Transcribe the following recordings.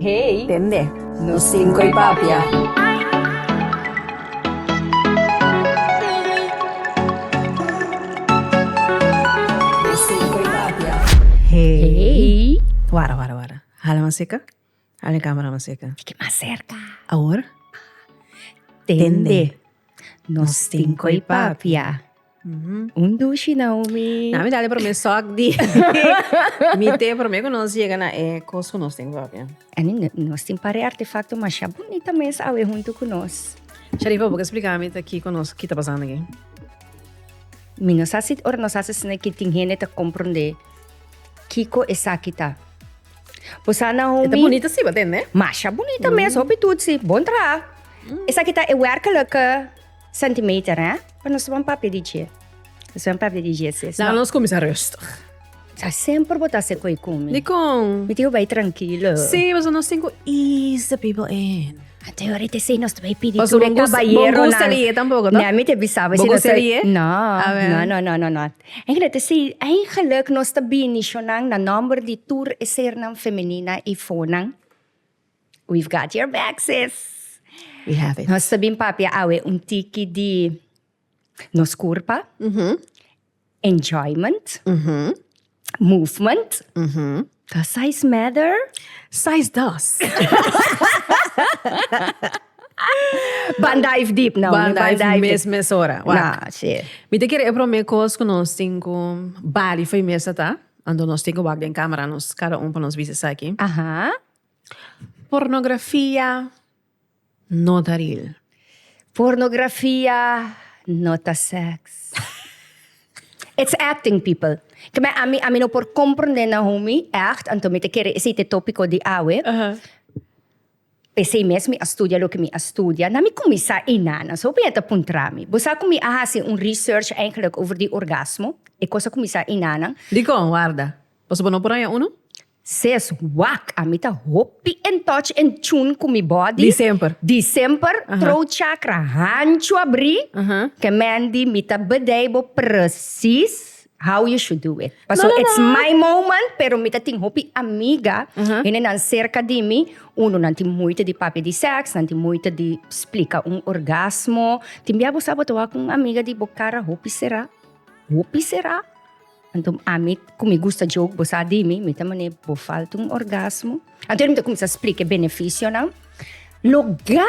Hey. Tende. Nos cinco y papia. Wara, wara, wara. Hala mas cerca. Hala e camera mas cerca. Tiki mas cerca. Awor. Tende. Nos cinco y papia. Un dushi Naomi. Nami dale prome sok di mi te prome ku nos yega na e kos ku nos tin propio. Ani nos tin pare artefakto masha bunita mes awe huntu ku nos. Sharifa bo ke splika mi ta kiko nos ki ta pasando aki? Mi no sa si ora nos hasi asina ki tin hende ta komprondé kiko esaki ta. Bo sa Naomi. E ta bunita si bo tende? Masha bunita mes hopi tutsi. Bon traha. Esaki ta e wèrkelijke. Centimeter eh? Pa nos ta un papia di dje. Nos ta un papia di dje si. Laga nos cuminsa rustig. Ta semper bo ta hasi cu e cumi. Dicon? Mi tin cu bay trankilo. Si, pasobra nos tin cu ease the people in. Anto yo rete esey nos ta bay pidi tur e cabayeronan. Pasobra bo gusta di e tampoco, no? Neh, mi te bisaba. Bo gusta di e? No. Awe. No, no, no, no, no. En rete esey, eigenlijk nos ta bini shonan na nomber di tur e sernan femenina y fonan. We've got your back sis. We have it. Nos ta bin papia awe un tiki di nos kurpa, enjoyment, movement, does size matter? Size does. Ban dive deep nou. Ban dive mes mes ora. Wak. Mi ta kere e prome kos ku nos tin ku bali for e mesa ta, anto nos tin ku wak den kamera nos kada un pa nos bisa esaki. Pornografia no ta ril. Pornografia no ta sex. It's acting people. Kibè ami ami no por komprondé na homi ègt anto mi ta kere esei ta e topiko di awe. P'esei mes mi a studia loke mi a studia. Na mi kuminsá ei nana so hopi hèn ta puntra mi, Bo sa ku mi a hasi un research eigenlik over di orgasmo? E kos a kuminsá ei nanan. Dikon? Warda. Pasobra no por haña unu? Ses, Wak, a mi ta hopi in touch, in tune ku mi body. Di semper. Di semper, throat chakra hanchu a bri, ke Mandy mi ta bedei bo presis how you should do it. Paso it's my moment, pero mi ta tin hopi amiga, henenan serka di mi, uno nan tin moeite di papia di seks, nan tin moeite di splika un orgasmo, tin bia bo sa bo ta wak ku un amiga di bo kara hopi sera, hopi sera. Anto ami ku mi gusta joke, bo sa di mi, mi ta manera bo falta un orgasmo. Anto er mi ta kuminsá splika e benefisionan. Logá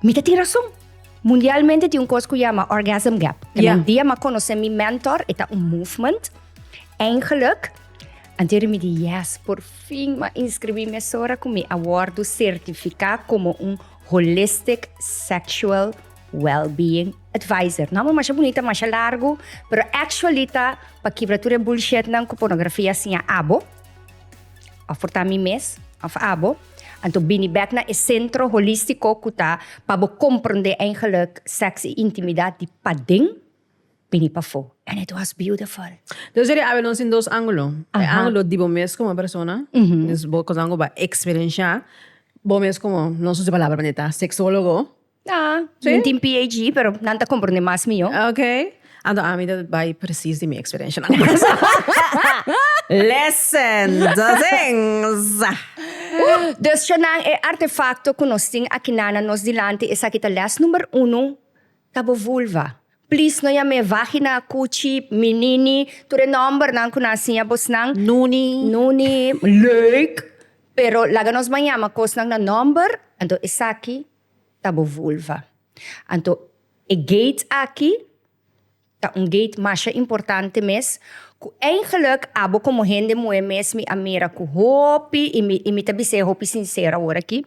mi ta tin rason. Mundialmente tin un kos ku yama orgasm gap. Te un dia mi a konosé mi mentor, e ta un movement. Eingelik, anto er mi di yes, por fin mi a inskribí mi esora ku mi a wòrdu sertifiká komo un holistic sexual. Wellbeing Advisor. No amo masha bunita, masha largu, pero actually ta pa kibra tur e bullshitnan ku pornografia a siña abo, òf por ta mi mes, òf abo. Anto bini bèk na e sentro holístiko ku ta pa bo komprondé eingelik sèks i intimidat di paden bini pafó. And it was beautiful. Entonces eri awe nos tin dos angulo. E angulo di bo mes komo persona, dus bo kosnan ku bo a eksperenshá bo mes komo nos usa e palabra bonita, seksólogo. Ah, sí. Min tin PhD, pero nan ta comprende mas mio. Ok. Anto a mi ta bai precies di mi experiencia nan casa. Lesson dozens. Dus cha nan e artefacto cu nos tin akinan na nos dilanti, esaki ta les number uno, ta bo vulva. Please no yam'e vagina, cuchi, minini, tur e nombernan cu nan a siña bosnan. Nuni. Nuni, leuk, pero laga nos ban yama cosnan na nomber, anto esaki. ta bo vulva. Anto e gate aki ta un gate masha importante mes, ku eigenlik abo komo hende muhé mes mi a mira ku hopi, i mi, i mi ta bis'é hopi sinsero awor aki,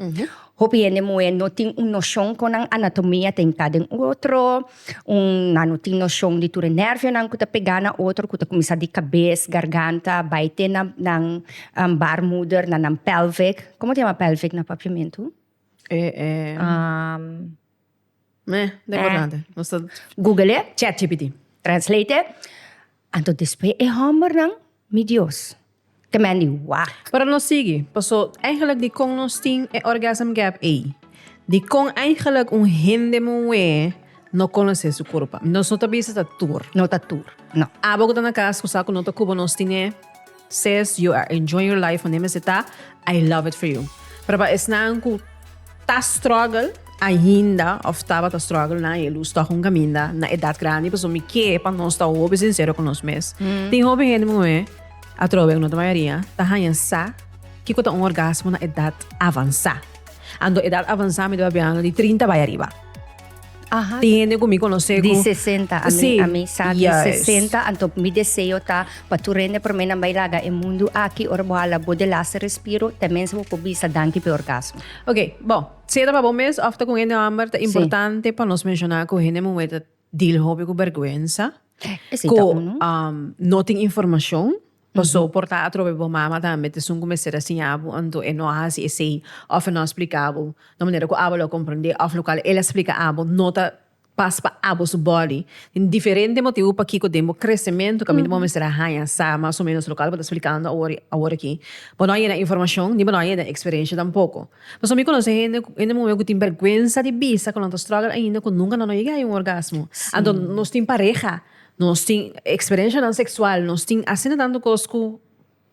hopi hende muhé no tin un noshon kon nan anatomia ta entrá den otro, un, nan no tin noshon di tur e nervionan ku ta pegá na otro, ku ta kuminsá di kabes, garganta, bai te na nan barmuder, na nan pèlvik, komo ta yama pèlvik na papiamentu? Google chatgpt, translate, anto despues e hombernan, mi Dios, te mend di wak. Pero nos sigui, paso eigenlijk dikon nos tin e orgasm gap ei? Dikon eigenlijk un hende muhé no konosé su kurpa? Nos no ta bisa ta tur. No ta tur, no. Abo ku ta na kas ku sa ku no ta kubo nos tin'é. Sis you are enjoying your life wanneer mester ta I love it for you pero pa esnan cu ta struggle ainda of tabata struggle nan e luz toch un caminda na edad grandi pasobra mi kier pa nos ta hopi sincero cu nos mes tin hopi hende muhe atrobe cu no ta mayoria ta haya sa kico ta un orgasmo na edad avansa ando edad avansa mi ta papia ano di trinta bay ariba. Ajá. Tin hende ku mi konosé ku Di 60, a mi, Sí, a mi sa di yes. 60, anto mi deseo ta pa tur hende promé nan bai laga e mundu aki, ora bo hala bo de laster respiro, ta mensa bo por bisa danki pe orgasmo. Ok, bon, si e ta pa bo mes of ta ku un hende hòmber, ta Sí. importante pa nos menshoná ku hende muhé ta deal hopi ku bèrgwensa, E si ku ta unu. um, no tin informashon. Paso por ta atrobe bo mama tambe ta esun ku mester a siña bo anto e no hasi esei òf e no a splika bo na manera ku abo lo komprendé òf lokal el a splika abo no ta pas pa abo su bòdi. Tin diferente motibu pakiko den bo kresementu kaminda bo mester a haña sa mas o ménos lokal ku bo ta splikando awor awor aki. Bo no a yena informashon ni bo no a yena eksperensha tampoko. Paso mi konosé hende hende muhé ku tin bèrgwensa di bisa ku nan ta strògel ainda ku nunka nan lo yega a haña un orgasmo. Anto nos tin pareha. Nos tin experenshanan seksual, nos tin asina tantu kos ku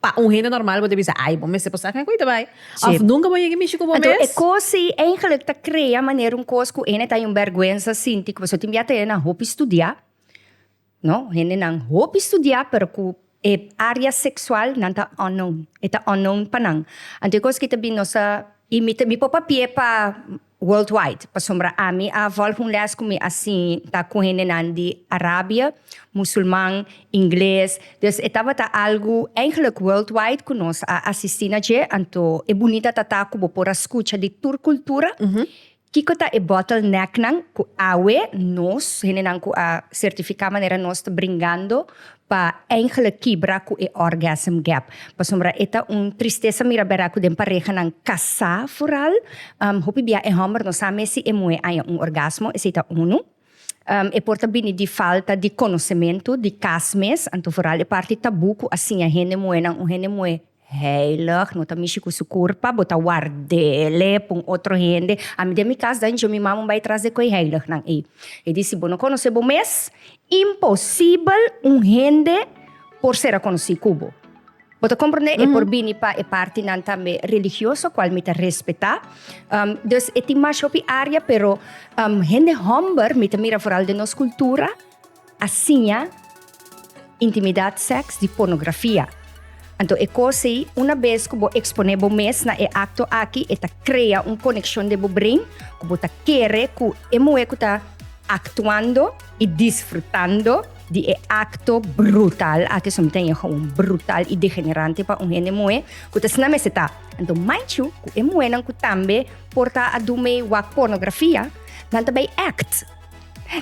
pa un hende normal bo ta bisa, ai, bo mester pasá ku e koita bai. Òf, nunka bo yega mishi ku bo mes. Anto e kos ei eigenlik ta krea manera un kos ku hende ta berguensa sinti ku pasobra tin biaha ta hende nan hopi studiá, no? Hendenan hopi studiá pero ku. E area sexual nan ta unknown, e ta unknown pa nan. Anto e cos ki ta bini nos a, y mi ta, mi por papia pa worldwide, pasobra ami a volg un les cu mi a sin ta cu hendenan di Arabia, musulman, ingles, dus e tabata algo eigenlijk worldwide cu nos a asisti na dje, anto e bunita ta ta cu bo por a scucha di tur cultura Kiko ta e bottlenecknan ku awe nos, hendenan ku a sertifiká manera nos ta bringando pa eindelijk kibra ku e orgasm gap? Pasobra e ta un tristesa mira bera ku den parehanan kasá foral, hopi bia e hòmber no sa mes si e muhé haña un orgasmo, esei ta unu. E por ta bini di falta di konosementu di kas mes, anto foral e parti tabú ku a siña hende muhénan, un hende muhé. Heilig, no ta mishi cu su curpa, bo ta wardele pa un otro hende. Ami den mi cas danjo mi mama un bay tras de coe heilignan ey. E di, si bo no conoce bo mes, imposibel un hende por ser a conoci cu bo. Bo ta comprende? E por bini pa e partinan tambe religioso, cual mi ta respeta. Dus e tin mash hopi area, pero hende homber mi ta mira vooral den nos cultura. a siña intimidad seks di pornografia. Anto e kos ei, una bes ku bo eksponé bo mes na e akto aki, e ta krea un konekshon den bo brein ku bo ta kere ku e muhé ku ta aktuando i disfrutando di e akto brutal aki, su mi ta yega un brutal i degenerante pa un hende muhé ku ta sina mester ta. Anto manchu ku e muhénan ku tambe por ta a dun mei wak pornografia, nan ta bai act.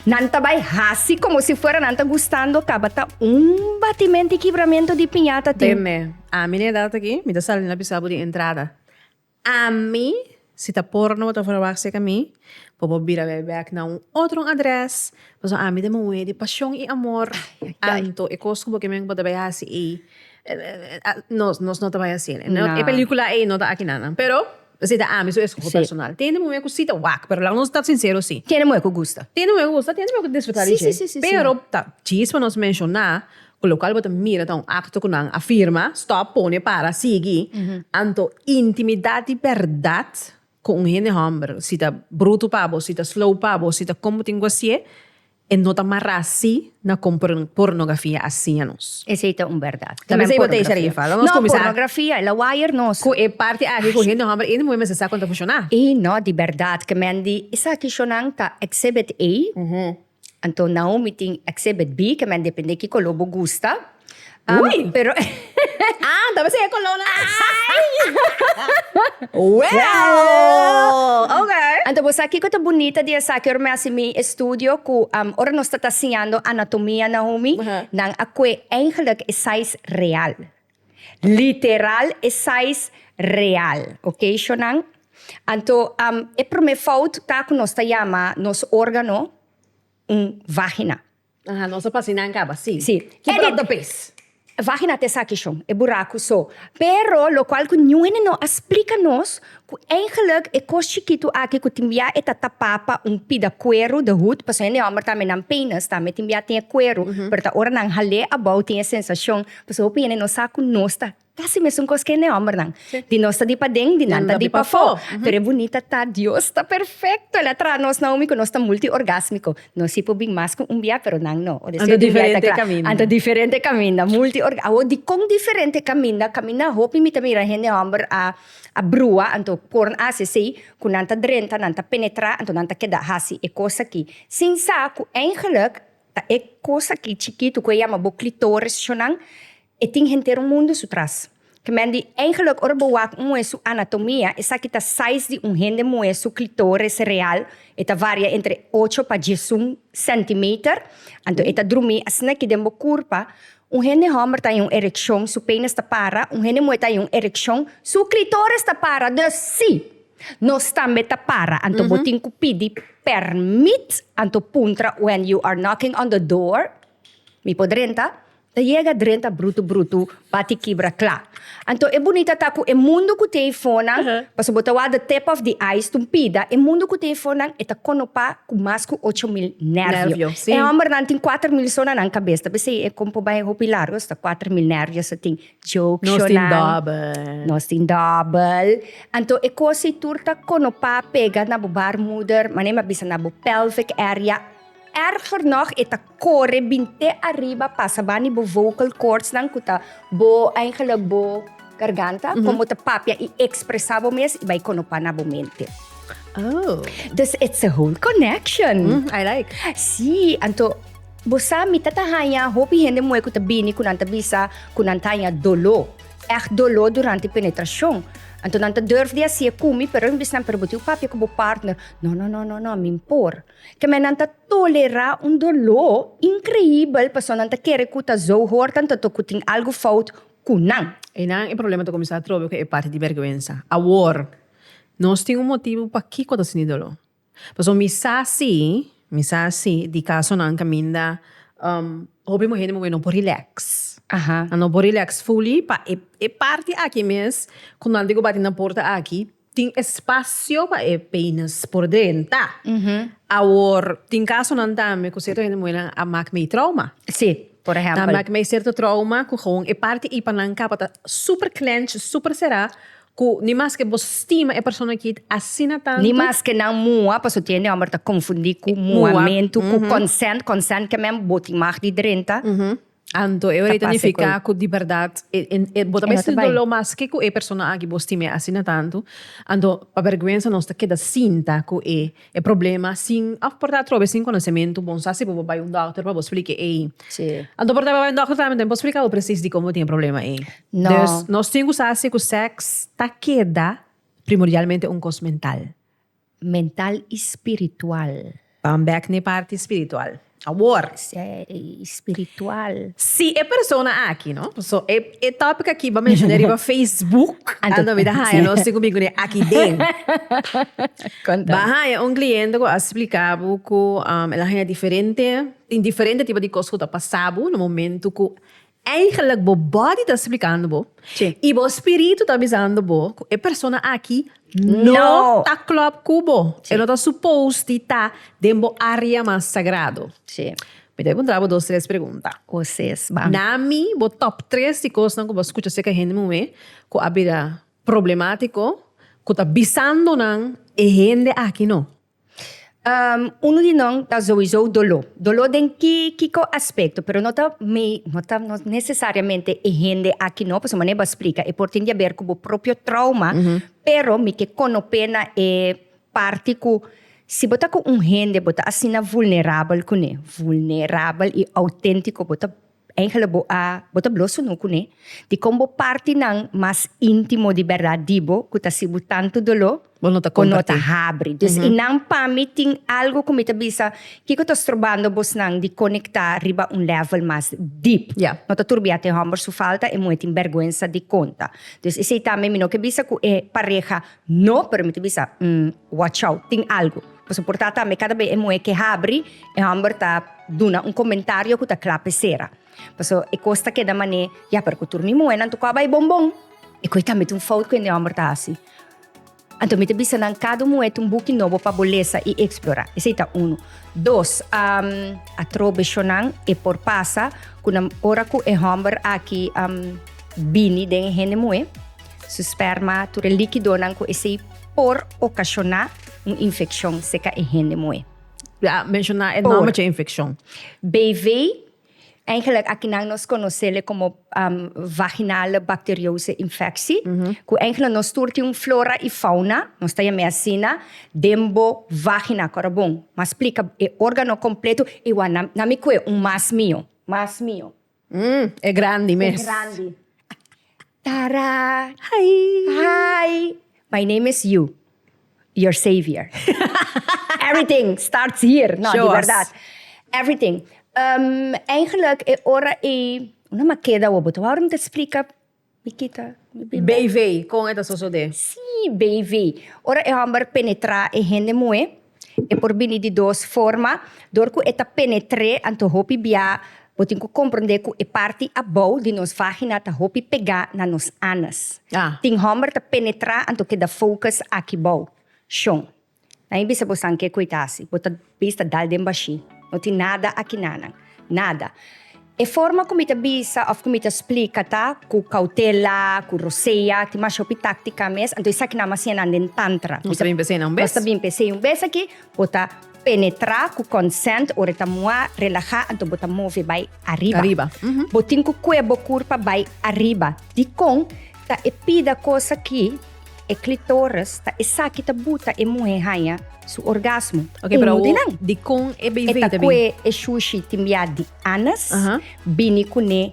Nan ta bai hasi como si fuera nan ta gustando tabata un batimento y kibramiento di piñata tin. Be me, ami na edad aki, mi ta sali na bisa bo den entrada. Ami, si ta porno bo ta verwacht seca mi, bo bo bira bay back na un otro adres, pasobra ami ta muhe di pasion y amor, anto e cos cu bo kimen cu bo ta bay hasi ey, nos, nos no ta bay haciel. E pelicula ey no ta aki nan nan, pero. Esei ta ami su escoho personal. Tene muhe cu si ta wak, pero laga nos ta sincero si. Tene muhe cu gusta. Tene muhe cu gusta, tene muhe cu ta disfruta di dje. Pero ta djis pa nos menciona cu local bo ta mira ta un acto cu nan a firma, stop, pone, para, sigui, anto intimidad di berdad cu un hende homber, si ta bruto pa bo, si ta slow pa bo, si ta como tin guasié, E no ta mara así na con pornografia asina nos. Esey ta un berdad. Tal vez ey bo ta echa riba falda. Nos cuminsa. No, pornografia, la wire nos. Cu e parti aki cu hende homber ey no moe mester sa con ta funciona. Ey no, di berdad ke men di esaki shonan ta exhibit A, anto Naomi tin exhibit B ke men depende kico lo bo gusta. Um, Ui! Pero, Ah, então você é coluna. Well! Ok. Anto bo sa kiko ta bunita di esaki ora mi hasi mi estudio ku um, ora nos ta ta siñando anatomia na homi, Aha. nan a kue eigenlijk e sais real. Literal e sais real. Ok, shonan? Anto um, e promé fout ta ku nos ta yama nos órgano un vagina. Aha, nos a pasina en caba, si. Si. Ki Edit! propto pes? Vagina ta esaki shon, e buraku so. Pero locual cu Newene no a splica nos cu eigenlijk e cos chikitu aki cu tin bia e ta tapa pa un pida cueru de hut, pasobra hende homber tambe nan penis tambe tin bia tin e cueru, pero ta ora nan hale abou tin e sensacion, pasobra hopi hende no sa cu nos ta Kasi mesun kos ku hende hòmbernan. Di nos ta di paden, di nan ta di pafó. Pero e bunita ta, Dios ta perfekto. El a traha nos na umi ku nos ta multiorgásmiko. Nos si por bin mas ku un biai, pero nan no. Anto diferente kaminda. Anto diferente kaminda. Multiorgásmiko. Awor, dikon diferente kaminda? Kaminda hopi mi ta mira hende hòmber a brua, anto por nan hasi esei, ku nan ta drenta, nan ta penetrá, anto nan ta keda hasi e kos akí, sin sa ku eingeluk ta e kos akí chikitu ku e yama bo klitorisnan, E tin henter un mundu su tras. Kmen di engeluk ora bo wak un muhé su anatomia, esaki ta saiz di un hende muhé su klitoris real, e ta varia entre ocho pa diesun sentimeter, anto e ta drumi asina ki den bo kurpa, un hende hòmber ta iun erekshon, su penis ta para, un hende muhé ta iun erekshon, su klitoris ta para, dus sí, nos tambe ta para, anto bo tin ku pidi permit, anto puntra when you are knocking on the door. Mi por drenta, ta yega drenta brutu brutu, bati kibra kla. Anto e bunita ta ku e mundu ku tin eifonnan, paso bo ta wak the tip of the ice tumpida, e mundu ku tin eifonnan e ta konopá ku mas ku ocho mil nervio. E hòmbernan tin kuater mil so na nan kabes, ta p'esei e kon por bai hopi largu asta kuater mil nervios ta tin. Jokshonan. Nos tin dòbel. Anto e kos ei tur ta konopá pega na bo baarmoeder, manera mi a bisa na bo pelvic area. Erger nog e ta kore bin te ariba pasa bani bo vocal cordsnan ku ta bo eigenlijk bo garganta kon bo ta papia i ekspresa bo mes i bai konopá na bo mente. Oh. Dus it's a whole connection. Mm, I like. Sí, anto bo sa mi ta ta haña hopi hende muhé ku ta bini ku nan ta bisa ku nan ta haña doló, ègt doló durante penetrashon. Anto nan ta durf di hasi e ku mi, pero nan bisa nan pero bo tin ku papia ku bo partner, no no no no no, mi mpor. K'e mennan ta tolerá un doló inkreíbel pasobra nan ta kere ku ta zo hoort antoto ku tin algu fout ku nan. Einan e problema ta kuminsá atrobe ku e parti di bèrgwensa. Awor, nos tin un motibu pakiko ta sinti doló. Pasobra mi sa sí, mi sa sí di kasonan kaminda hopi muhé di muhé no por rilèks. Nan no por rilèks fully pa e parti aki mes ku nan a diku bati na porta aki. Tin espacio pa e peines por den ta. Awor tin casonan tambe cu cierto hende muhernan a maak mei trauma. Si, por ejempel. Ta maak mei cierto trauma cu gewoon e parti ey pa nan capa ta super clench, super cera cu ni maske bo stima e persona kiet asina tanto. Ni maske nan mua, paso tin hende homber ta confundi cu muamentu cu consent. Consent ke men bo tin maak di drenta. Anto e ora ta nifica cu di berdad bo ta mester dolo mas ke cu e persona aki bo stima asina tanto anto pa berguensa nos ta keda sinta cu e problema sin a porta atrobe sin conocemento bon sa si bo bo bay un doctor pa bo splica ey anto bo bay un doctor tambe bo splica bo precies dikon bo tin e problema ey nos tin cu sa si cu sex ta keda primordialmente un cos mental Mental i spiritual. Ban bek n'e parti spiritual awor. Spiritual. Si e persona aki no, so e e topic aki bo menshon'e riba facebook anto mi ta haña nos tin ku bin ku n'e aki den. Ba haña un kliente ku a splika bo ku el a haña diferente tin diferente tipo di kos ku ta pasa bo na momentu ku Eigenlijk bo body ta splikando bo i bo spiritu ta bisando bo ku e persona aki no ta klòp ku bo. E no ta supos di ta den bo área mas sagrado. Mi ta puntra bo dos tres pregunta. Na mi bo top tres di kosnan ku bo a skucha seka hende muhé ku a bira problemátiko ku ta bisando nan e hende aki no? Unu di nan ta souiso doló. Doló den ki, kiko aspecto, pero no ta me-, no ta, no necesariamente e hende aki no, pasobra manera bo a splica, e por tin di haber cu bo propio trauma, pero mi ke konope na e parti cu si bo ta cu un hende bo ta asina vulnerabel cu ne, vulnerabel y autentico, bo ta. Eingele bo a bo ta blo sunu kuné di kon bo parti nan mas intimo di berdad di bo ku ta si bo tantu doló bo no ta habri. Dus i nan pa mi tin algo ku mi ta bisa kiko ta strobando bos nan di konektá riba un level mas deep. No ta turbiá te hòmber su falta e muhé tin bèrguensa di konta. Dus esei tambe mi no ke bisa ku e pareha No permiti bisa, Umm, wachau, tin algu. Pasobra por ta tambe kada bes e muhé ke habri, e hòmber ta duna un komentario ku ta kla p'e sera. Paso e kos ta keda man'é, Ya, pero ku tur mi muhénan tokaba bai bombon. E koi tambe ta un fout ku hende hòmber ta hasi. Anto mi ta bisa nan kada un muhé ta un buki nobo pa bo lesa i eksplorá. Esei ta unu. Dos, Atro beshonan e por pasa ku nan ora ku e hòmber aki bini den e hende muhé. Su sperma, tur e likidonan ku esei por okashoná un infekshon, seka e hende moe. Ya menshoná e nòmber dje infekshon. BV, eingelik akinan nos konosele komo vaginale bakteriose infeksi, ku eingelik nos tur tin un flora i fauna, nos ta yam'é asina, den bo vagina, korobon. M'a splika e órgano kompletu i wou nan mi kue un mas mio, mas mio. Mm, e grandi mes. E grandi. Tara. Hi. Hi. My name is you. Your savior. Everything starts here. No, di verdad. Everything. Um, eigenlijk e ora e, una makeda wo bo ta wou rum ta splika. Mi kita, mi bin bèk. BV, kon e ta sosodé? Sí, BV. Ora e hòmber penetrá e hende muhé, e por bini di dos forma. Dor ku e ta penetr'é, anto hopi biá bo tin ku komprondé ku e parti abou di nos vágina ta hopi pegá na nos anus. Tin hòmber ta penetrá anto keda focus aki bou. Shon. Na e bisa bosan ke koe ta hasi, bo ta bes ta dal den bashi. No tin nada aki nanan, nada. E forma ku mi ta bisa òf ku mi ta splika ta ku kautela, ku rosea, tin mas hopi táktika mes, anto esaki nan a hasié nan den tantra. Nos ta bin p'esei na un bes. Nos ta bin p'esei un bes aki, bo ta penetrá ku konsènt ora e ta muhá, relahá, anto bo ta move bai ariba. Ariba. Bo tin ku koe bo kurpa bai ariba. Dikon ta e pida kos aki? E clitoris ta esaki ta buta e muhe haña su orgasmo. Ok, pero Uno di nan. di con e baby E ta ta bin. kue e shushi tin bia di anus, Aha. bini kuné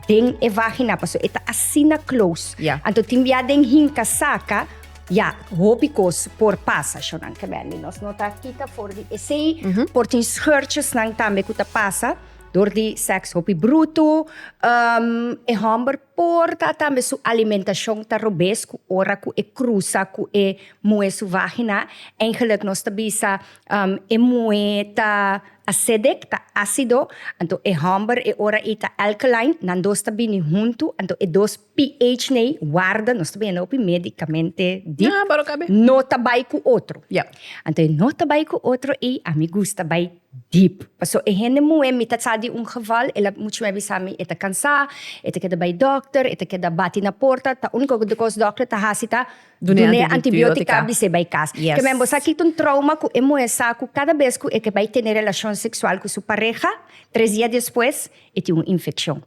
den e vagina, paso e ta asina close. Ya. Anto tin bia den hinka saka, ya, hopi kos por pasa, shownan ke men di nos no ta kita for di esei, por tin scheurtjesnan tambe ku ta pasa dor di seks hopi brutu, ehm, e hòmber Por ta tambe su alimentacion ta robes cu ora cu e cruza cu e moe su vagina, eigenlijk nos ta bisa e moe ta acidic, ta acido, anto e homber e ora ey ta alkaline, nan dos ta bini hunto, anto e dos pH n'ey warda, nos ta biaha hopi medicamente di, no ta bay cu otro, anto e no ta bay cu otro ey a mi gusta bay. dip. Paso e hende muhe mi ta sa di un geval el a mucho me bisa mi e ta cansa e ta keda bay dokter e ta keda bati na porta ta unico cos dokter ta hasi ta dune antibiotica bise bay cas kemen bo sa kiko trauma cu e muhe sa cu cada bes cu e ke bay tene relacion sexual cu su pareha tres dia despues e tin un infeccion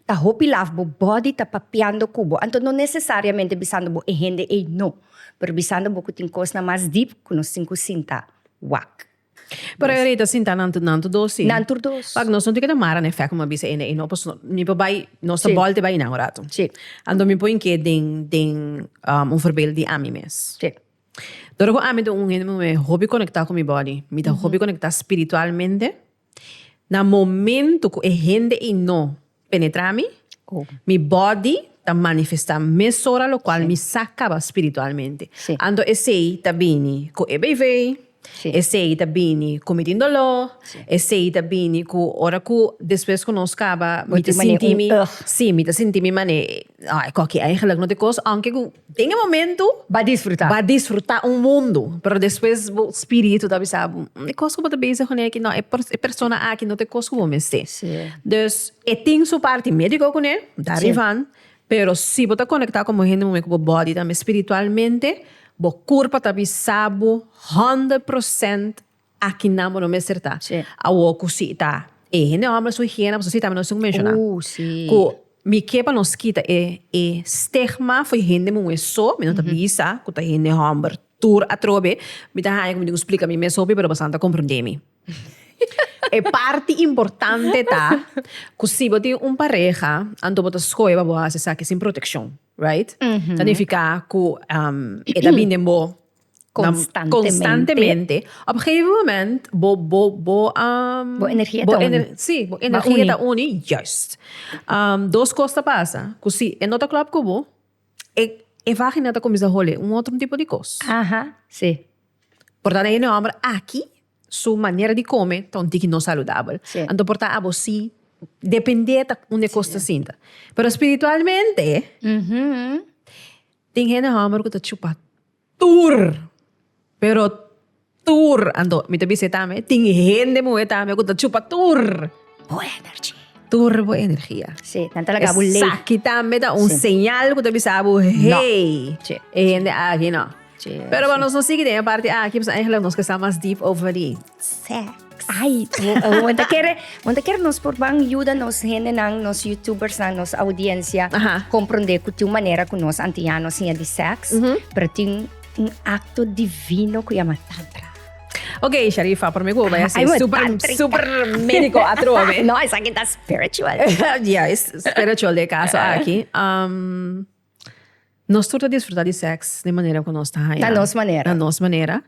ta hopi laf bo body ta papiando cu bo anto no necesariamente bisando bo e hende ey no pero bisando bo cu tin cosnan mas dip cu no sin cu sinta wak. Pero e rei ta sinta nan tur nan tur dos tin. Nan tur dos. Pak nos no tin ke ta mara na e fèk ku mi a bisa ene ei no pasobra mi por bai nos ta bòlte bai nan un ratu. Si. Anto mi por tin ke den den un verbeel di ami mes. Si. Ora ku ami ta un hende muhe hopi konektá ku mi bòdi mi ta hopi konektá spiritualmente na momentu ku e hende ei no. penetra mi, mi body ta manifesta mesora locual mi sa caba spiritualmente. Anto esey ta bini cu e beivei, esey ta bini cu mi tin dolor, esey ta bini cu ora cu despues cu nos caba mi ta sinti mi, si mi ta sinti mi mane. Ah, e kokkie eigenlijk no te koos, aunque ku den e momento Ba disfruta. ba disfruta un mundo, pero despues bo spiritu ta bisa bo, "Mm, e kos ku bo ta bezig kuné aki, no, e pers- e persona aki no ta e kos ku bo mester. Sí. Dus e tin su parti médico kuné, dar Sí. rivan, pero si bo ta konektá komo hende momen ku bo bòdi tambe spiritualmente, bo kurpa ta bisa bo honderd prosènt, Aki nan bo no mester ta. Awor cu si ta e hende homber su higiene pasobra si ta mi no tin cu menciona cu mi ke pa nos kita e stigma fo'i hende muhe so mi no ta bisa cu ta hende homber tur atrobe mi ta haya cu mi tin cu splica mi mes hopi pero pasobra nan ta comprende mi. E parti importante ta cu si bo tin un pareha anto bo ta scoge pa bo haci esaki sin proteccion. Right? Ta nifiká ku e ta bin den bo konstantemente. Op e gegeven moment bo energia ta uni. Sí, bo energia ta uni, juist. Dos kos ta pasa, ku si e no ta klòp ku bo, e vágina ta kuminsá hole un otro tipo di kos. Por tanto e hòmber aki Su manera di come ta un tiki no saludabel. Sí. Anto por ta abo si depende ta un cos ta sinta. Pero spiritualmente, tin hende homer cu ta chupa tur. Pero tur. Anto mi ta bisa e tambe, tin hende muhe tambe cu ta chupa tur. bo energy. Tur bo energia. Sí, nan ta lagabo lei. Esaki tambe ta un Sí. señal ku ta bisa bo, hey, Sí. e hende aki no. Sí, Pero sí. pa nos no sigui den e parti aki, pues eigenlijk nos ke sa mas diep over di sex. Ai, bo- bo ta kere, bo ta kere nos por ban yuda nos hendenan, nos youtubersnan, nos audiencia Aha. komprondé ku tin un manera ku nos antiña nos siña di sèks, Mhm. pero tin un akto divino ku yama tantra. Ok, Sharifa, pero mi cu vaya ser super, super médico atrobe. no, es aquí está spiritual. ya, es spiritual de caso aquí. Um, nos turta disfrutar de seks de manera que nos está haya. Na nos manera. Na nos manera.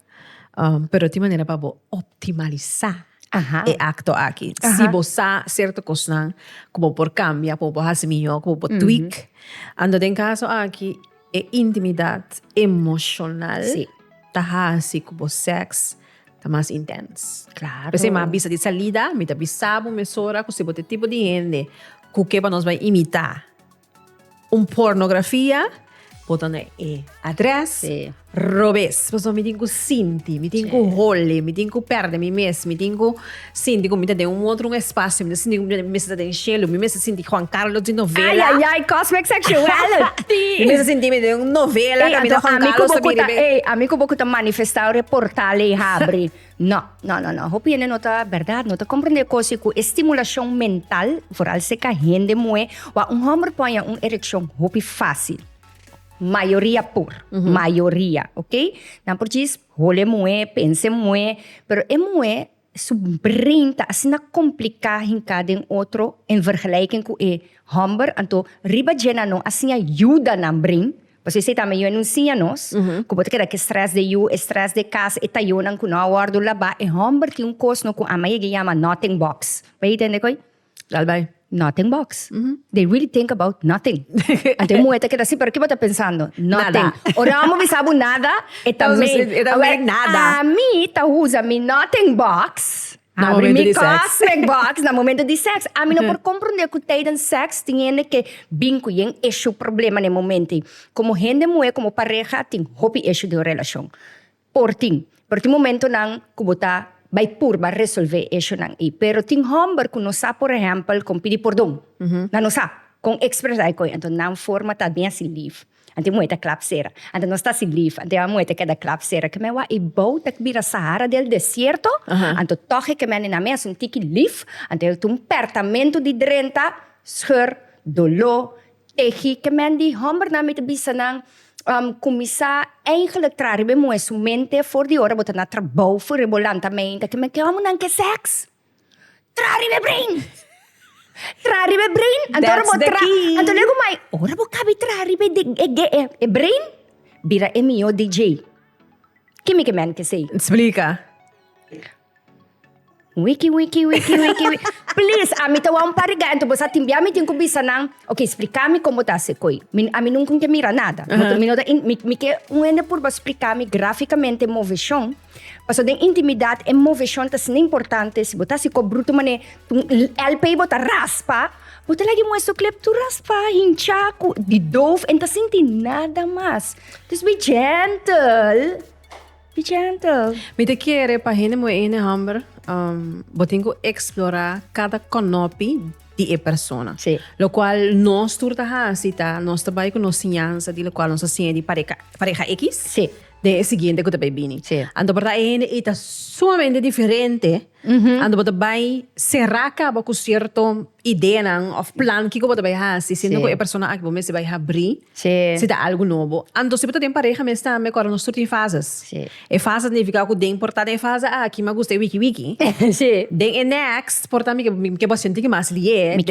Um, pero de manera para optimalizar Aha. e acto aquí. Aha. Si vos sa cierto cosa, como por cambiar, como por hacer mejor, como por tweak. Mm -hmm. Ando den caso aquí, E intimidat emoshonal ta hasi ku bo sèks ta mas intens. Claro. P'esei m'a bisa di salida, mi ta bisa bo mesora ku si bo ta e tipo di hende ku ke pa nos bai imitá un pornografia, bo ta na e adrès robes. Pasobra mi tin ku sinti, mi tin ku holi, mi tin ku pèrdè mi mes, mi tin ku. Sinti ku mi ta den un otro un espacio, mi ta sinti ku mi mester ta den shelu, mi mester sinti Juan Carlos di novela. Ay ay ay cosmic sexuality. Mi mester sinti mi ta den un novela kaminda Juan Carlos ta bini riba. Ey ami ku bo ku ta manifestá ora e portal ey habri no no no no hopi hende no ta berdad no ta komprendé kosi ku e stimulashon mental foral si ka hende muhé wak un hòmber poña un erekshon hopi fásil mayoria por mayoria oke nan por djis Hole muhé, pense muhé, pero e muhé su brein ta asina kompliká hinká den otro en vergelijking ku e hòmber, anto riba dje nan no a siña yuda nan brein, pasobra esei tambe yu a nun siña nos, ku bo ta keda ku e strès den yu, e strès den kas, e tayonan ku no a wòrdu labá, e hòmber tin un kos no ku Ama yega yama nothing box, bo yega tende ko'i. Lalbai. Nothing box. They really think about nothing. Ante un mujer ta keda así, pero ¿qué bo ta pensando? Nothing. Nada. Ora amo bisa bo nada, e ta Entonces, mean. e ta Awe, mean nada. Ami ta usa mi nothing box, Na abri momento mi di sex. cosmic box na momento di sex. Ami no por comprende cu tijdens sex tin hende ke bin cu yen issue, problema, n'e momento ei. Como hende muher, como pareha, tin hopi issue den un relacion. Por tin. Pero tin momentonan cu bo ta bay purba resolve e ishunan ey. Pero tin homber cu no sa por ehempel con pidi pordon. Nan no sa con expresa e coyo. Anto nan forma ta den así lief. Anto e muhe ta clap sera. Anto nos ta así lief. Anto e muhe ta keda clap sera. Keme wak e bou ta bira sahara del desierto. Anto toch e keme nenan mes un tiki lief. Anto e ta un pertamento di drenta, scheur, dolor. Tegi ke men di hòmbernan mi ta bisa nan kuminsá eigenlik traha riba e muhe su mente for di ora bo ta na trabou for riba bo lanta meinta ke men ke hòmbernan ke sèks traha riba e brein traha riba e brein anto ora bo traha anto luego mai ora bo kabe traha riba e brein bira e mihó DJ kimi ke men ke sey. Splika. Wiki wiki wiki wiki wiki. Please, ami ta wou pa riga, entonces bosa tin bia mi tin ku bisa nan, ok, splika mi kon bo ta hasi koi. Mi, ami nunca un ke mira nada. Mi ta- mi no ta in- mi, mi ke un hende purba splika mi graficamente moveshon, paso den intimidad e moveshon ta asina importante, si bo ta hasi kop bruto mane tin un l- lpi bo ta raspa, bo ta lag'e muesto klep tur raspa, hincha, ku di doof, e n'ta sinti nada mas. Dus be gentle. Pichento! Mi ta kere pa hende muhé hende homber bo tin ku eksplorá kada konopi di e persona. Sí. Lokual nos tur ta hasi ta nos ta bai ku nos siñansa di lokual nos a siña di pareka pareha x. Sí. Den e siguiente ku ta bai bini. Sí. Anto por ta e hende ei ta sumamente diferente. Anto bo ta bai será kaba ku sierto ideanan òf plan kiko bo ta bai hasi siendo ku e persona aki bo mester bai habrí si ta algu nobo. Anto si bo ta den pareha mes tambe kòrda nos tur tin fases. E fase ta nifiká ku den por ta den fase aki mi a gusta e wiki wiki. Den e next por ta mi ke bo a sinti ki mi a hasil ye.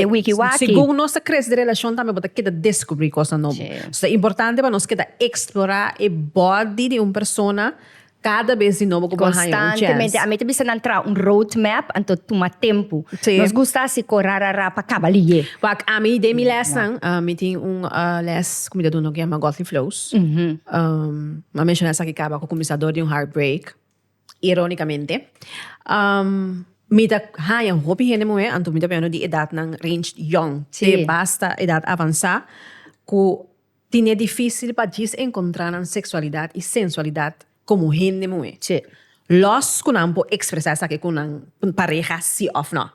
Segun nos ta krese di relashon tambe bo ta keda deskubrí kosnan nobo. So ta importante pa nos keda eksplorá e bòdi di un persona Kada bes di nobo ku bo a haña un chèns. Konstantemente. A mi ta bisa nan traha un road map, anto tuma tempu. Sí. Nos gusta hasi ko rarara pa kaba liyé. Wak, ami den mi lèsnan, mi tin un lès ku mi ta duna ku yama Godly Flows. Mi a menshoná esaki kaba ku kuminsado di un heartbreak, irónikamente. Mi ta haña hopi hende muhé, anto mi ta biaha no di edatnan ranged yòn te basta edat avansá, ku. Tin e difícil pa djis encontrá nan sexualidad y sensualidad como hende muhé. Tje, los cu nan por expresá esaki cu nan pareha sí of no.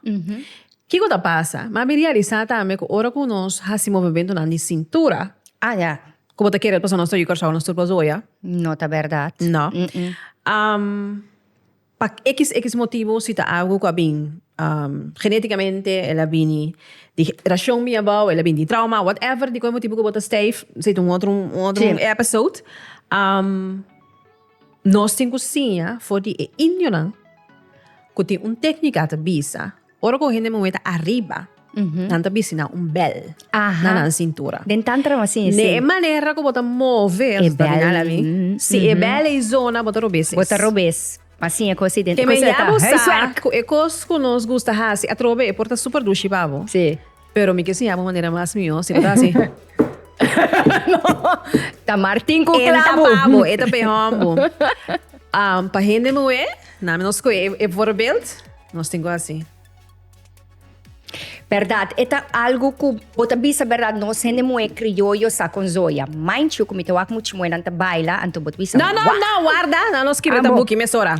Kico ta pasa? M'a bin realisá tambe cu ora cu nos haci movementonan di cintura. Ah, ya. Cu bo ta kere el pasobra nos ta oí Curaçao nos tur pas oia? No ta berdad. No. Am. Pa xx motibu si ta algu ku a bin geneticamente el a bini di generacion mi abao el a bini di trauma whatever di kon e motibu ku bo ta stijf ese ta un otro un otro episode nos tin ku siña for di e indionan ku tin un tecnica ta bisa Ora ku un hende muhé ta ariba, nan ta bisi nan un bèl na nan sintura. Den Tantra bo a siña esei. E manera ku bo ta move asombroso ta bini al a mi. Si e bèl ei zona, bo ta rob'es es. Bo ta rob'es pa siña ku asidente. Ku esei ta huiswerk. Kem'en ya bo sa ku e kos ku nos gusta hasi atrobe e por ta super dushi pa bo. Si. Pero mi ke siña bo manera mas mihó, si bo ta hasi. Ta Martin ku Enta klabu. pa bo, e ta pehón bo. Am, pa hende muhé, na mi nos koe e, e voorbeeld, nos tin ku hasi. Bèrdat, e ta algu ku bo ta bisa bèrdat nos hende muhé krioyo sa konzoya. Mind you ku mi ta wak muchi muhénan ta baila, anto bo ta bisa, Nan, nan, nan, wau! warda, nan nos skibi Ambo. ta buki mesora.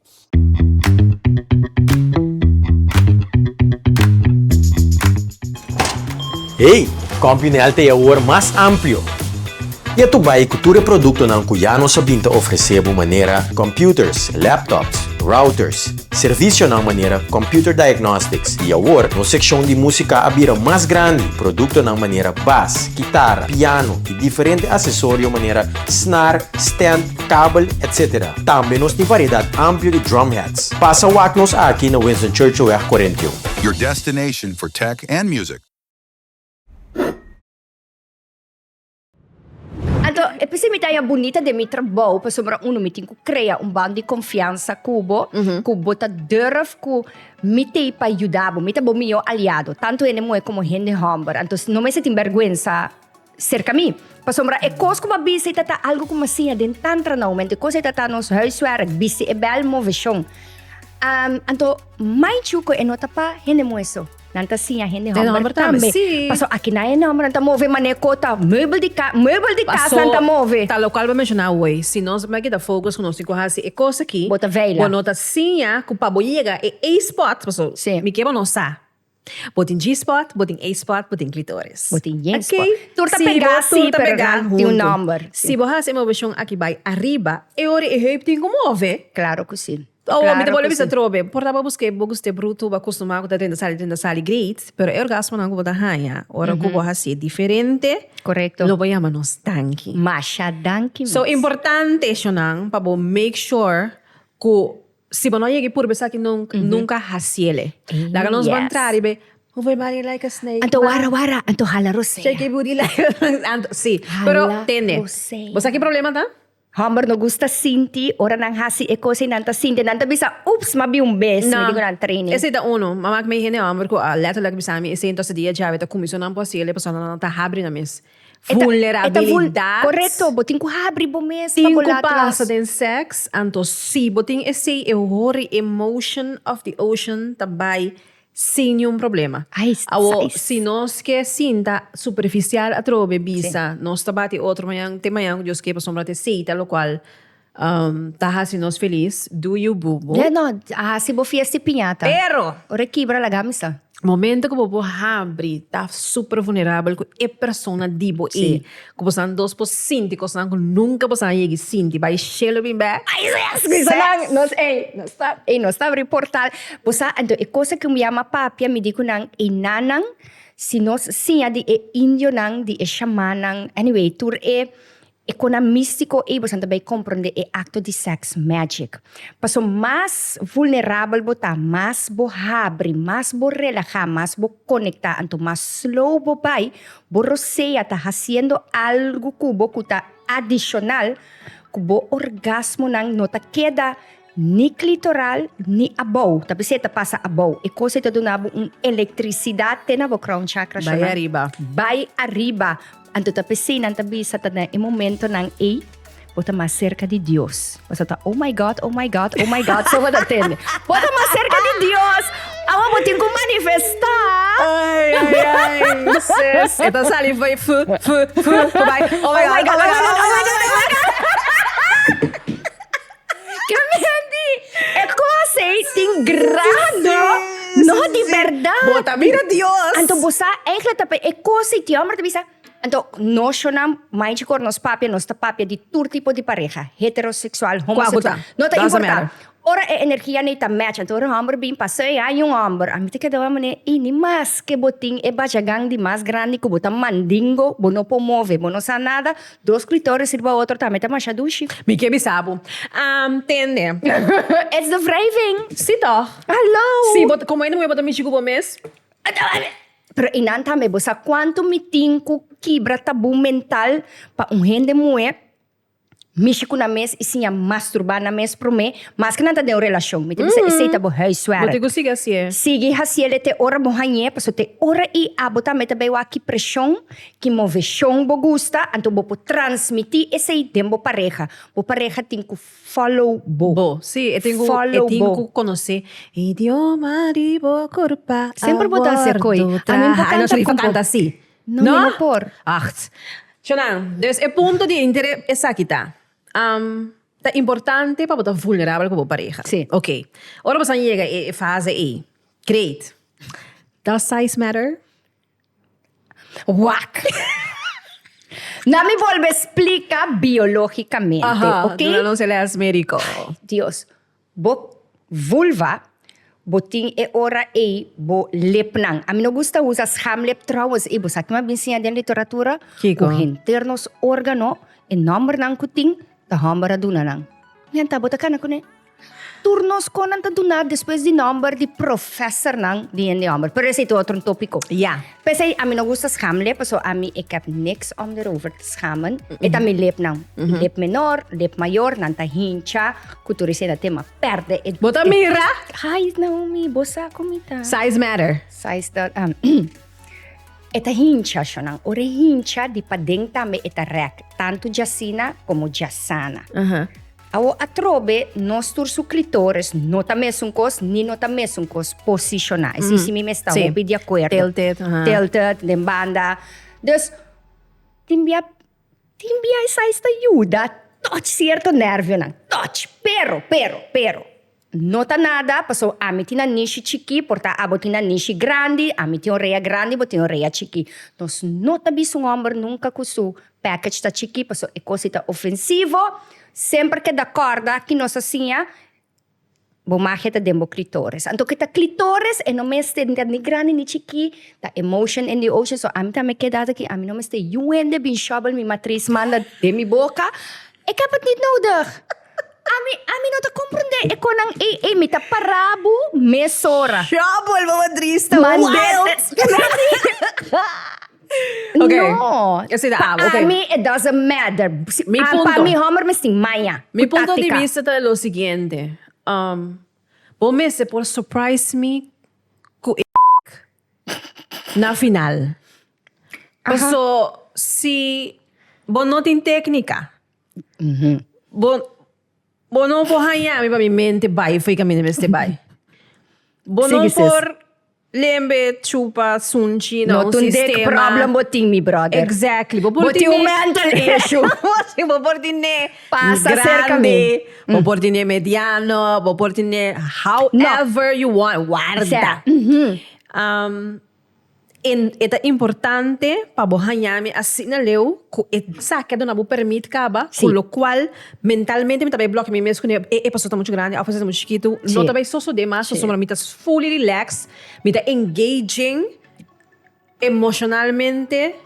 Hey! Compuniel ta e awor mas amplio! Ya tu bay cu tur e productonan cu ya nos a bin ta ofrece bo manera computers, laptops, routers, servicionan manera computer diagnostics y awor nos seccion di musica a bira mas grandi, productonan manera bas, guitarra, piano y diferente accesorio manera snar, stand, kabel, etc. Tambe nos tin variedad amplio di drum hats. Pasa wak nos aki na Winston Churchillweg cuarenta y un. Your destination for tech and music. Anto, e p'esei mi ta haña bunita den mi trabou pasobra uno mi tin ku krea un band di konfiansa ku bo, ku bo ta durf ku mi t'ei pa yuda bo. Mi ta bo mihó aliado, tantu hende muhé komo hende hòmber. Anto, no mester tin bèrgwensa serka mi. Pasobra e kos ku bo a bisa ei ta ta algu ku mi a siña den tantra na oumento. E kos ei ta ta nos huiswerk, bisti e bèl, move shon. Am, anto mai ciu ku e no ta pa hende muhe so. Nan ta siña hende Den hòmber hòmber tambe, tambe. sí. Paso aki na hende hòmber nan ta move manera ku ta meubel di ka, meubel di kas nan ta move. Paso, ta lokual bo a menshoná hoy, si nos mai kita fokus ku nos tin ku hasi e kos aki, Bo ta vela. bo no ta siña ku pa bo yega e ei spòt, paso Sí. mi ke bo no sa. Bo tin G-spot, bo tin A-spot, bo tin klitoris. Bo tin Yen spot. Oké, tur ta pegá sí, pero nan tin un nòmber. Si bo tur ta pegá huntu. Si bo hasi e moveshon aki bai ariba, e ora e heup tin ku move. Klaro ku sí. Awor mi ta bolbe bisa atrobe. Por ta bo buska e bogus te brutu, bo a kustumá ku ta drenta sali, drenta sali, great, pero e orgasmonan ku bo ta haña ora ku bo hasi e diferente, lo bo yama nos danki. Masha danki mes. So, importante eshonan pa bo make sure ku. Si bo no a yega i purba esaki nunc, nunca a haciele. Laga nos ban trari be. Move your body like a snake, ma. Anto wara wara, anto hala rosea. Shake your booty like a anto, si. Pero tende. Hala rosea. Bo sa ki problema ta? Homber no gusta sinti ora nan haci e cosa y nan ta sinti. Nan ta bisa, Oops, m'a bin un bes, mi dico nan training. Esey ta uno. M'a mak mei hende homber cu a letterlijk bisa mi esey, entonces di e djawe ta cuminso nan por haciele pasobra nan ta habri nan mes. Vulnerabilidad. Correcto, bo tin cu habri bo mes pa bo laat los. Tin cu pasa den sex, anto si bo tin esey e hori e motion of the ocean ta bay sin niun problema. Awo si nos ke sinta superficial atrobe bisa nos ta bati otro mañan te mañan cu Dios kepa sombra te seita locual. Um, ta hasi nos feliz. Do you bubu? Ya no, a hasi bo fiesta y piñata. Pero. Ora kibra la gami sa. Momento ku bo por habri, ta super vulnerabel ku e persona di bo ei. Ku bosan dos por sinti kosnan ku nunka bosan a yegi sinti. Bai shelo bin bè. Ai seks, kisanan nos ei, nos ta, ei nos ta abri portal. Bo sa, anto e kosa ku mi yama papia mi di ku nan, e nannan, si nos siña di e indionan, di e shamannan, anyway, tur e, E konan místiko eibosan ta bai komprondé e akto di sèks mèjik. Paso mas vulnerabel bo ta, mas bo habri, mas bo relahá, mas bo konektá, anto mas slow bo bai, bo rosea ta hasiendo algu ku bo ku ta adishonal ku bo orgasmonan no ta keda Ni klitoral ni abou. Ta p'esei ta pasa abou. E kos ei ta duna bo un elektrisidat te na bo crown chakra shonan. Bai ariba. Bai ariba. Anto ta p'esei nan ta bisa ta den e momentonan ei bo ta mas serka di Dios. Bo sa ta oh my God, oh my God, oh my God, so bo ta tende. Bo ta mas serka di Dios. Awa bo tin ku manifestá. Ai, ai, ai, sis. E ta sali bai fu, fu, fu, fu bai. Oh my God, oh my God, oh my God, oh my God. E cos ey tin grado, no di verdad. Bo ta mira Dios. Anto bo sa eigenlijk ta pe e cos ey ti homber ta bisa. Anto noshonan manchi cor nos papia nos ta papia di tur tipo di pareha heterosexual homosexual Cuacuta. no ta Danza importa mera. ora e energia ney ta match anto ora un homber bin pasa ey aña un homber a mi ta keda mane y ni mas ke bo tin e bajagan di mas grandi ku bo ta mandingo bo no por move bo no sa nada Dos clitoris riba otro tambe ta masha dushi. Mi ke bisa bo. Am tende. It's the wrijving. Si toch? Hallo! Si bo ta, como ende muhe bo ta mishi cu bo mes? Pero y nan tambe, bo sa cuanto mi tin cu kibra tabú mental pa un hende muhe mishi cu nan mes y siña masturba nan mes prome, maske nan ta den un relacion. Mi ta bisa esey ta bo huiswerk. Bo tin cu sigui hacié. Sigui haciele te ora bo hañ'é, pasobra te ora y abo tambe ta bay wak ki presion Ki moveshon bo gusta, anto bo por transmití esei den bo pareha. Bo pareha tin ku follow bo. Bo. Sí, e tin ku, e tin ku konosé idioma di bo kurpa a Semper bo dansa e koi. wordo A mi por traha. Ai no kanta Sharifa ku bo. kanta así. No, mi no por. Aht. Chonan, dus e punto di interé esaki ta, ta importante pa bo ta vulnerabel ku bo pareha. Sí. Oké. Ora bo sa yega e fase ei, great. Does size matter? Wak! Na mi volbe splika biológikamente, Aha, oké? duna nos e lès médiko. Dios, bo vulva, bo tin e ora ei bo lepnan. Ami no gusta usa schamlep trouwens. Ey, bo sa kiman a bin siña den literatura? Kiko? Ku henter nos órgano, e nòmbernan ku tin, ta hòmber a duna nan. Mi a tabata kana kuné. Tur nos kon nan ta duna despues di nomber di professornan di hende homber. Pero esei tu otro topico. Ja. Pesei, a mi no gusta schamele, paso a mi ik heb niks om erover te schamen. Mm -mm. E ta mi lipnan. Mm -hmm. Lip menor, lip mayor, nan ta hincha, ku tur esei na tema perde. E, Bota e, mira? Hai, Naomi, bosa komita. Size matter. Size ta... Um, e ta hincha, shonan. Ora hincha, di paden tambe e ta rek. Tanto jasina como jasana. Uh -huh. Awor atrobe, nos tur su clitoris no ta mesun cos, ni no ta mesun cos posiciona. Así si mi mester Sí. hopi de acuerdo. Tilted, aha. Tilted, den banda. Dus, tin bia, tin bia esai sta yuda touch cierto nervionan. Touch. Pero, pero, pero, No ta nada, paso ami tin nan nishi chiki, por ta abo tin nan nishi grandi, ami tin orea grandi, bo tin orea chiki. Nos no ta bisa un homber nunca cu su package ta chiki, paso e cos ei ta ofensivo. Semper ke da corda ki nos a siña, bo magia ta den bo clitoris. Anto ke ta clitoris, e no mester ta ni grandi ni chiki, ta e motion in the ocean. So ami ta me keda aki, ami no mester yu hende bin shovel mi matris manda den mi boca, ik heb het niet nodig! Ami ami no ta comprende e con nan ei ei mi ta para bu mesora. Trouble, mama triste. Man, Wild. that's- Ok. No. Yo soy de Pa abo, ok. ami, it doesn't matter. Si- Mi ah, punto. Pa mi homer mistin maya. Mi cu punto di táctica. vista ta lo siguiente. Um, bo mester por surprise mi cu e na final. Paso si bo no tin técnica. Bo, bo no por hañami pa mi mente bai fo'i ka mi no mester bai. Bo no Sigui, sis. por lembe chupa sunchi na No un tundek sistema. problem bo tin, mi brother. Exactly. Bo por Bo tin un mental issue. Sí, bo por tiene Pasa grande, cerca mi. bo por tiene mediano, bo por tiene however you want, warda. sea, Um, E ta importante pa bo haña mi asina leu ku esaki a duna bo permit kaba, ku lokual mentalmente mi ta bai blòkiá mi mes kuné e episode ta muchu grandi òf esaki ta muchu chikitu, no ta bai sosodé mas pasobra mi ta fully relax, mi ta engaging emoshonalmente.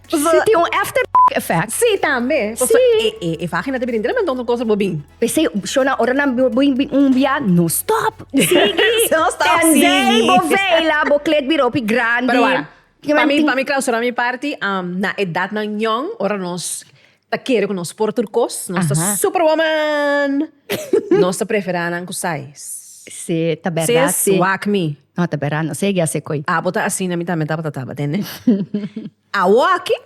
Si tin un after effect? Sí, tambe. Sí. E, e, e vagina te brintra montón van cosas bo bin. Pese, Shona, ora nan bo bin un bia, no stop. Sigui. no stop, Tenzij, sigui. bo vela, bo klet bira hopi grandi. Pero wara, pa mi, pa mi clausura mi parti, um, na edadnan young, ora nos. Ta kere ku nos por tur kos. Nos ta super woman. Nos ta prefera nan ku sais. Sí, ta berdad sí. Swak mi. No, ta berdad no. Segui así koe. Abo ta asina mi tambe tabata taba, tende. Awo aki.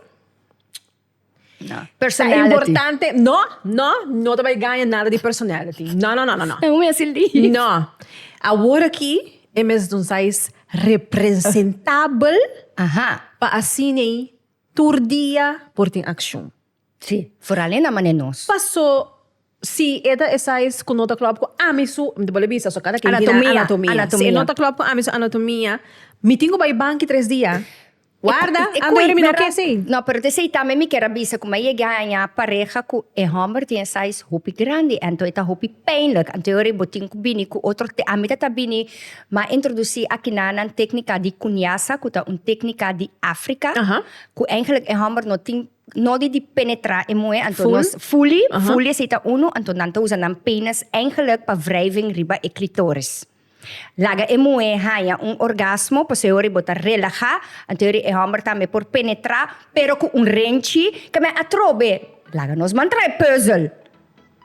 No. Personality. Ta importante, no, no, no ta bai gaña nada di personality. No, no, no, no, no. Amo mi así lief. No. Awor aki e mes di un sais representabel pa asina ei. Tur dia por tin accion. Sí, foral e na mane nos. Paso si e ta esai cu no ta clop cu ami su, mi ta bole bisa so cada key tin anatomia. Si e no ta clop cu ami su anatomia, mi tin cu bay banki tres dia. Warda, anto mi no ke así. No, pero ta esai tambe mi kier a bisa cu mi a yega a haña pareha cu e homber tin e size hopi grandi, anto e ta hopi pijnlijk. Anto e ora bo tin cu bini cu otro, te ami ta ta bini. M'a introdusí akinan nan téknika di kunyasa, ku ta un téknika di Áfrika, ku eigenlijk e hòmber no tin nodi di penetrá e muhé, anto nos. Fuli? Fuli, fuli esei ta unu, anto nan ta usa nan penis eigenlijk pa wrijving riba e klitoris. Laga e muhé haña un orgasmo, pasobra bo ta relahá, anto yori e hòmber tambe por penetrá, pero ku un renchi, ke men atrobe laga nos mantra e puzzel.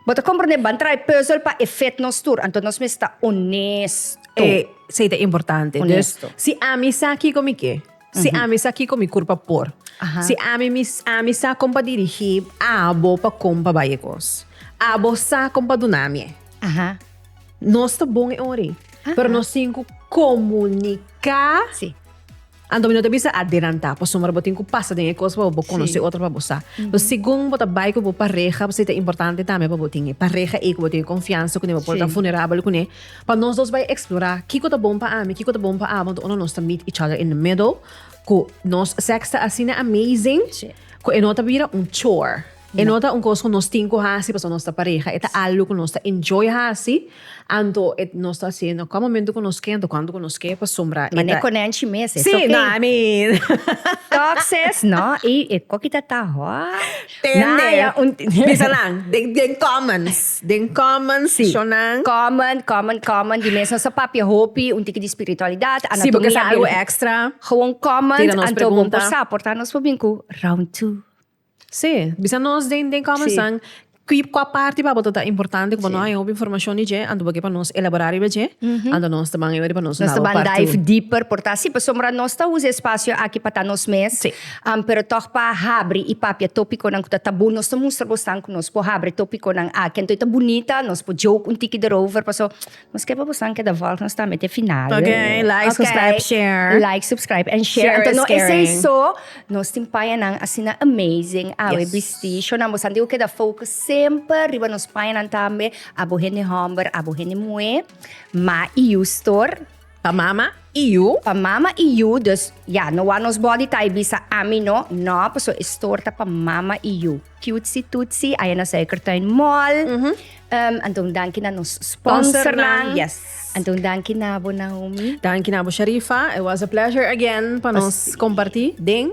Bo ta komprende? Ban trae puzzel pa e fed nos tur, anto nos mes ta onesto. Esei ta importante. Dus, si ami sa kiko mi ke, si ami sa kiko mi kurpa por, si ami mi, ami sa kon pa dirigí abo pa kon pa bai e kos, abo sa kon pa duna mi e. Nos ta bon e ora ei, pero nos tin ku komuniká. Anto mi no ta bisa adelantá pasobra bo tin ku pasa den e kos pa bo konosé otro pa bo sa. Pues segun bo ta bai ku bo pareha pasobra ta importante tambe pa bo tin e pareha ei ku bo tin e konfiansa kuné pa bo por ta funerabel kuné pa nos dos bai eksplorá kiko ta bon pa ami kiko ta bon pa abo anto unda nos ta meet each other in the middle ku nos sèks ta asina amazing ku e no ta bira un chore. E no ta un cos cu nos tin cu haci pasobra nos ta pareha, e ta algo cu nos ta enjoy haci, anto e nos ta haci na cua momento cu nos key, anto cuando cu nos key, pasobra e ta. Mane conenci mes, es okay. Sí, I mean. Talk sis, no, y e coki ta ta hot. Tende, bisa nan, den comments, den comments, shon nan. Sí, comment, comment, comment, di mes nos a papia hopi, un tiki di spiritualidad, anatomia. Sí, porque es algo extra. Gewoon comment, anto bo por sa, por ta nos por bin cu round two. Sí, bisa nos den den kòmensant ki kua parti pa boto ta importante ku bo no haña hopi informashon di dje anto bo ke pa nos elaborá riba dje anto nos ta ban eweri pa nos dal bo part two. Nos ta ban dive dieper por ta así pasobra nos ta usa e spasio aki pa ta nos mes pero tòg pa habri i papia tòpikonan ku ta tabú nos ta mustra bosnan ku nos por habri tòpikonan aki anto e ta bunita nos por joke un tiki derover paso Maske pa busan keda volg nos ta mete final. Ok, like, subscribe, share. Like, subscribe and share. Share Anto is no esei caring. so, nos tin payanan asina amazing awe Yes. bisti. Shownan bosan tin ku keda focus semper riba nos payanan tambe, abo hende hòmber, abo hende muhé, ma i yu stor. Pa mama y yu. Pa mama y yu, dus ya, no wou nos body ta y bisa ami no, no, paso es store ta pa mama y yu. Cutesy Tutsi, aya na Suikertuin Mall. Ehm, anto un danki na nos sponsornan. Yes. Anto un danki na bo Naomi. Danki na bo Sharifa, it was a pleasure again pa nos comparti den.